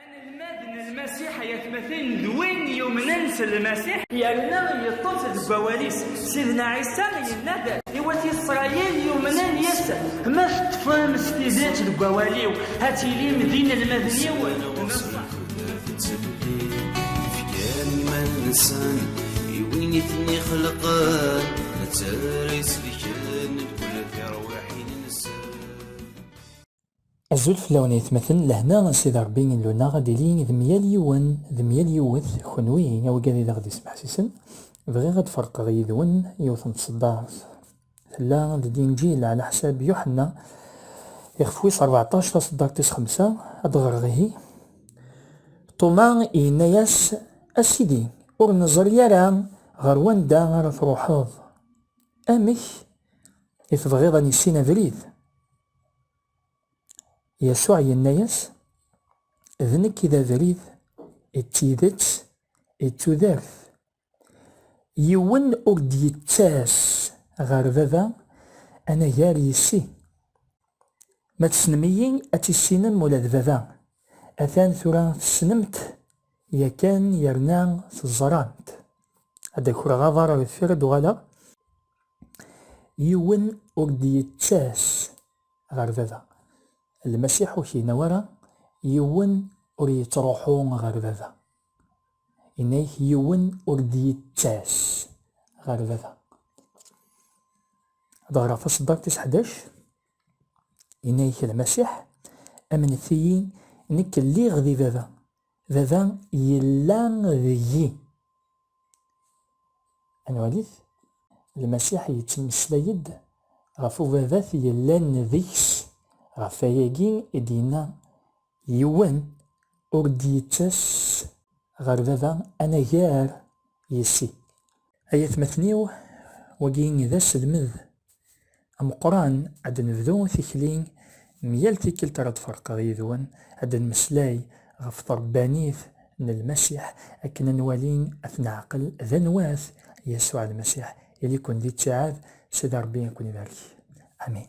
Anelmad n Lmasiḥ ay atmaten d win yumnen s Lmasiḥ yerna yeṭṭef deg wawal-is. Sidna Ɛisa yenna-d i wat Isṛayil yumnen yes-s, Ma teṭṭfem s tidet deg wawal-iw, ad tilim d inelmaden-iw n Allah. Fkan iman-nsen i win i ten-ixelqen, nettarra isefkan. Azul fell-awen ayetmaten, lehna n Sidi Ṛebbi Illu-nneɣ ad d-ili d myal yiwen d myal yiwet, kenwi a wigad i d aɣ-d-ismeḥsisen, bɣiɣ ad d-ferqeɣ yid-wen yiwet n tseddart, tella deg Inǧil ɛla ḥsab Yuḥenna, ixef wis ṛbeɛṭac, taseddart tis xemsa, ad d-ɣreɣ ihi. Ṭuma yenna-yas, A Sidi, ur neẓri ara ɣer wanda ara truḥeḍ, amek i tebɣiḍ a nissin abrid? Yasuɛ yenna-yas, D nekk i d abrid, d tidet, d tudert. Yiwen ur d-yettas ɣer Baba anagar yis-i. Ma tessnem-iyi, ad tissinem ula d Baba. Atan tura tessnem-t yakan yerna teẓram-t. Ad d-akreɣ aḍar deffir ad d-uɣaleɣ. Yiwen ur d-yettas ɣer baba. Lmasiḥ ur k-yenna wara, Yiwen ur yettruḥu ɣer baba. Yenna-ak, Yiwen ur d-yettas ɣer baba. Ad ɣreɣ taṣeddart tis ḥdac. Yenna-ak Lmasiḥ, Amnet-iyi, nekk lliɣ di baba. Baba yella deg-i. Ad nwali-t. Lmasiḥ yettmeslay-d ɣef Ubabat yellan deg-s. Ɣef wayagi i d-yenna, Yiwen ur d-yettas ɣer Baba anagar yessi. Ay atmaten-iw, wagi d aselmed ameqqran, ad d-nebdu tikli n yal tikkelt ara d-ferqeɣ yid-wen, ad d-nmeslay ɣef trebbanit n Lmasiḥ, akken ad nwali, ad t-neɛqel, d anwa-t Yasuɛ Lmasiḥ. Ili-ken di ttiɛad, Sidi Ṛebbi a ken-ibarek. Amin.